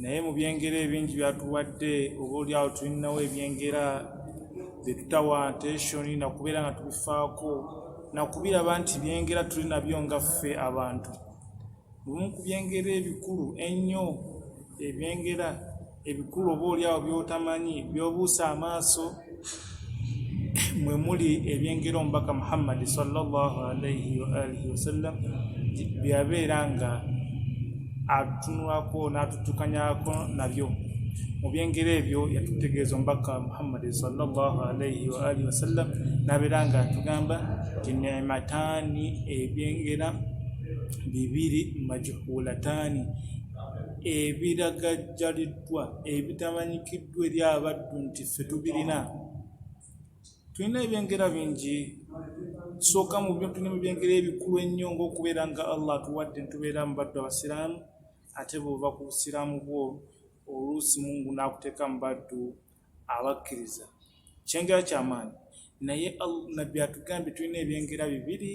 naye mu byengera ebingi byatuwadde oba olyawo tulinawo ebyengera byetutawa attention nakubeera nga tubifaako nakubiraba nti byengera tuli nabyo nga ffe abantu lumu ku byengera ebikulu ennyo ebyengera ebikulu oba olyawo byotamanyi byobuusa amaaso mwe muli ebyengera omubaka muhammadi salllahalaihi waalihi wasallam byabeera nga atunulako n'atutukanyako nabyo mu byengera ebyo yatutegeeza omubaka muhammadi salllahalaihi waalihi wasallam nabeera nga atugamba nti nemataani ebyengera bibiri majuhulataani ebiragajjaliddwa ebitamanyikiddwa ddu eri abaddu nti ffe tubirina tulina ebyengera bingi sooka mu tulina mu byengera ebikulu ennyo ngaokubeera nga allah atuwadde ntubeera mu baddu abasiraamu ate bwova ku busiraamu bwo oluusi mungu n'akuteeka mu baddu abakkiriza kyengera kyamaanyi naye nabbi atugambye tulina ebyengera bibiri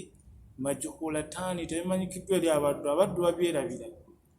majukulataani tebimanyikiddwa eri abaddu abaddu babyerabira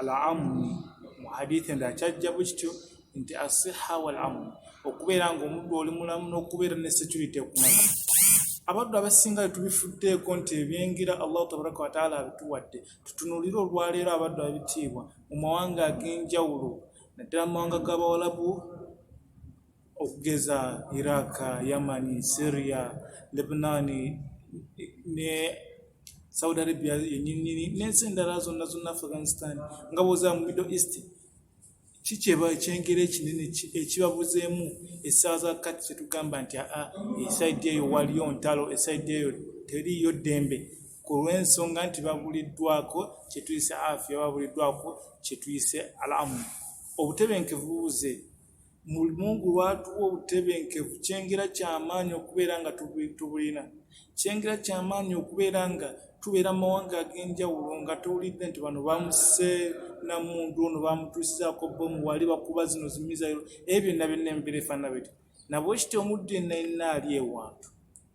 al amu mu hadith endala kyajja bwe kityo nti asiha wal amu okubeera ng'omuddu oli mulamu n'okubeera ne security ekumala abaddu abasinga tubifuddeeko nti ebyengera allahu tabaraka wataala abituwadde tutunulire olwaleero abaddu abitiibwa mu mawanga ag'enjawulo naddala mu mawanga g'abawalabu okugeza Iraq, Yamani, Syria, Lebanoni ne Saudi Arabia yenyinyini n'ensi endala zonna zonna Afghanistan nga bwoza mu Middle East kikyeba ekyengera ekinene ekibabuzeemu essaaza kati kyetugamba nti aa esaidi eyo waliyo ntalo esaidi eyo teriiyo ddembe ku lw'ensonga nti babuliddwako kyetuyise afya babuliddwako kyetuyise alamu obutebenkevu buze Mungu lwatuwa obutebenkevu kyengera kyamaanyi okubeera nga tubulina kyengera kyamaanyi okubeera nga tubeera mu mawanga ag'enjawulo nga towulidde nti bano bamuse na muntu ono bamutuusizaako bomu wali bakuba zino zimizayo ebyo byonna byonna embeera efaanana beti nabwekityo omuddu yenna yenna ali ewantu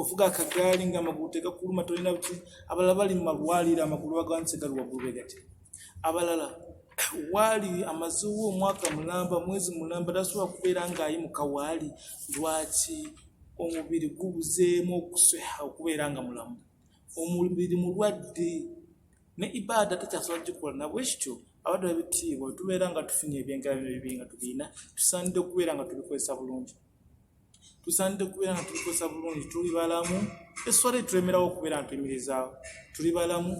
ovuga akagaali nga amagulu tegakuluma tolina buti abalala bali mu malwaliro amagulu baganise gali waggulu begati abalala waali amazewo omwaka mulamba mwezi mulamba tasobola kubeera ng'ayi mu kawaali lwaki omubiri gubuzeemu okusweha okubeera nga mulamu omubiri mulwadde ne ibaada tekyasobola gikola nabwe kityo abadde babitiibwa tubeera nga tufunye ebyengalabyo bibi nga tubiina tusaanidde okubeera nga tubikozesa bulungi tusaanidde kubeera nga tubikozesa bulungi tuli balamu eswala etulemberawo okubeera nga tuyimirizaawo tuli balamu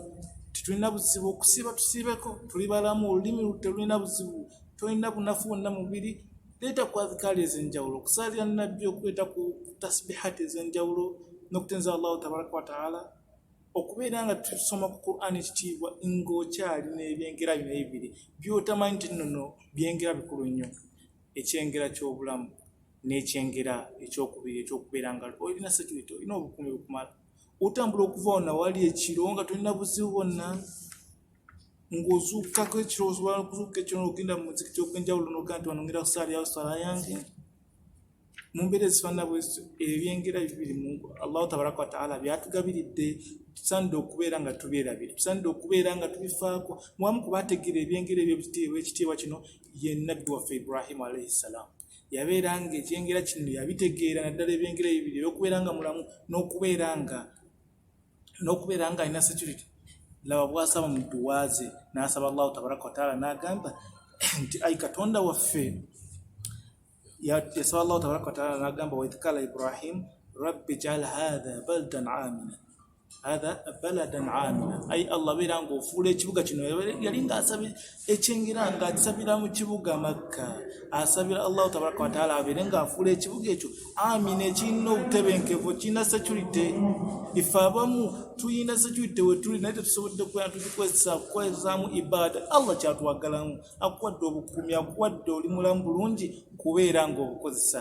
tetulina buzibu okusiiba tusiibeko tuli balamu olulimi telulina buzibu tolina bunafu wonna mubiri leeta ku adhikaali ez'enjawulo okusaalira nabbi okuleeta ku tasbihati ez'enjawulo n'okutenza allahu tabaraka wataala okubeera nga tusoma ku qurani ekitiibwa ng'okyalina ebyengera bino ebibiri byotamanyi nti nono byengera bikulu nnyo ekyengera ky'obulamu n'ekyengera ekyokubiri ekyokubeera nga olina security olina obukuumi bukumala otambula okuva wona wali ekiro nga tolina buzibu bwonna ng'ozuukkako ekiro osobola okuzuuka ekiro nogenda mu muzikiti ogwenjawulo nogenda nti wanongera kusaala yawo sala yange mu mbeera ezifaanana bwezityo ebyengera bibiri mu allahu tabaraka wataala byatugabiridde tusanidde okubeera nga tubyerabira tusanidde okubeera nga tubifaako mwamu kubategeera ebyengera ebyo ebitiibwa ekitiibwa kino ye nabbi waffe ibrahimu alaihi ssalaamu yabeera nga ekyengera kino yabitegeera naddala ebyengera ebibiri ebyokubeera nga mulamu nokubeera nga nokubeera nga alina security laba bwasaba mu dduwa ze nasaba allahu tabaraka wataala nagamba nti ai katonda waffe yasaba allahu tabaraka wataala nagamba waidh kala ibrahimu rabbi jaal hatha baldan amina hadha baladan amina ai allah beera ngaofuula ekibuga kino yali ngaasabi ekyengera nga akisabira mu kibuga makka asabira allahu tabaraka wataala abeere ngaafuula ekibuga ekyo amina ekirina obutebenkevu kirina security ife abamu tulina security wetuli naye tetusobodde kubeera tukikozesa kukozesaamu ibaada allah kyatwagalamu akuwadde obukuumi akuwadde oli mulamu bulungi kubeera ngaobukozesa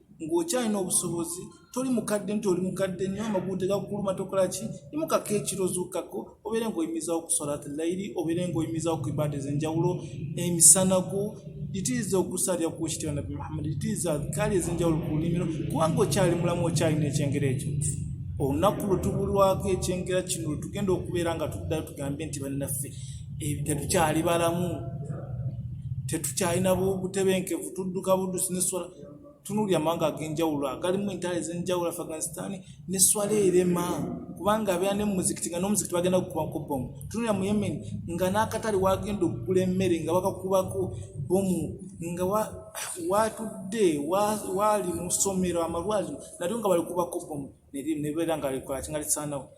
ng'okyalina obusobozi toli mukadde nti oli mukadde nyo amagulu tegakuluma tokola ki imukako ekiro zuukako obeere ng'oyimizawo okusalati layiri obeere ng'oyimizawo ku ibaada ez'enjawulo emisana gwo litiriza okusalira ku kitira nabbi muhammadi litiriza adhikaali ez'enjawulo ku lulimiro kubanga okyali mulamu okyalina ekyengera ekyo olunaku lwe tubulwako ekyengera kino lwe tugenda okubeera nga tuddayo tugambe nti bannaffe eh, tetukyali balamu tetukyalina butebenkevu tudduka buddusi neswala tunuulira amawanga ag'enjawulo agalimu entalo ez'enjawulo afghanistan ne swala erema kubanga abeera ne mumuzikiti nga n'omuzikiti bagenda kukuba ku bomu tunuulira mu yemen nga n'akatale wagenda okugula emmere nga bakakubako bomu nga watudde waali mu ssomero amalwaliro nalyo nga balikubako bomu nebeera nga likola kinga lisaanawo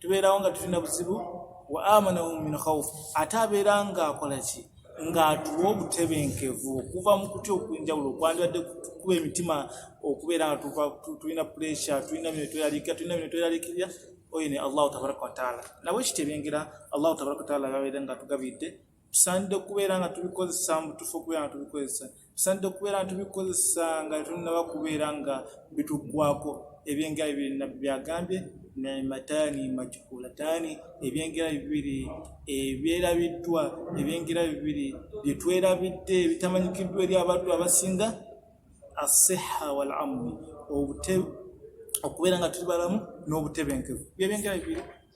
tubeerawo nga tulina buzibu wa amanahum min khauf ate abeera ng'akola ki ng'atuwa obutebenkevu okuva mu kutya okwenjawulo okwandibadde kuba emitima okubeera nga tulina puresha tulina bino tweralikira tulina bino tweralikirira oyo ne allahu tabaraka wataala nabwe kitebyengera allahu tabaraka wataala babeera nga tugabidde tusaanidde okubeera nga tubikozesa mu butuufu okubeera nga tubikozesa tusaanidde okubeera nga tubikozesa nga tunnaba kubeera nga bituggwako ebyengera bibiri nabbi byagambye nemataani majukulataani ebyengera bibiri ebyerabiddwa ebyengera bibiri byetwerabidde ebitamanyikiddwa eri abantu abasinga asiha wal amni okubeera nga tuli balamu n'obutebenkevu byebyengera bibiri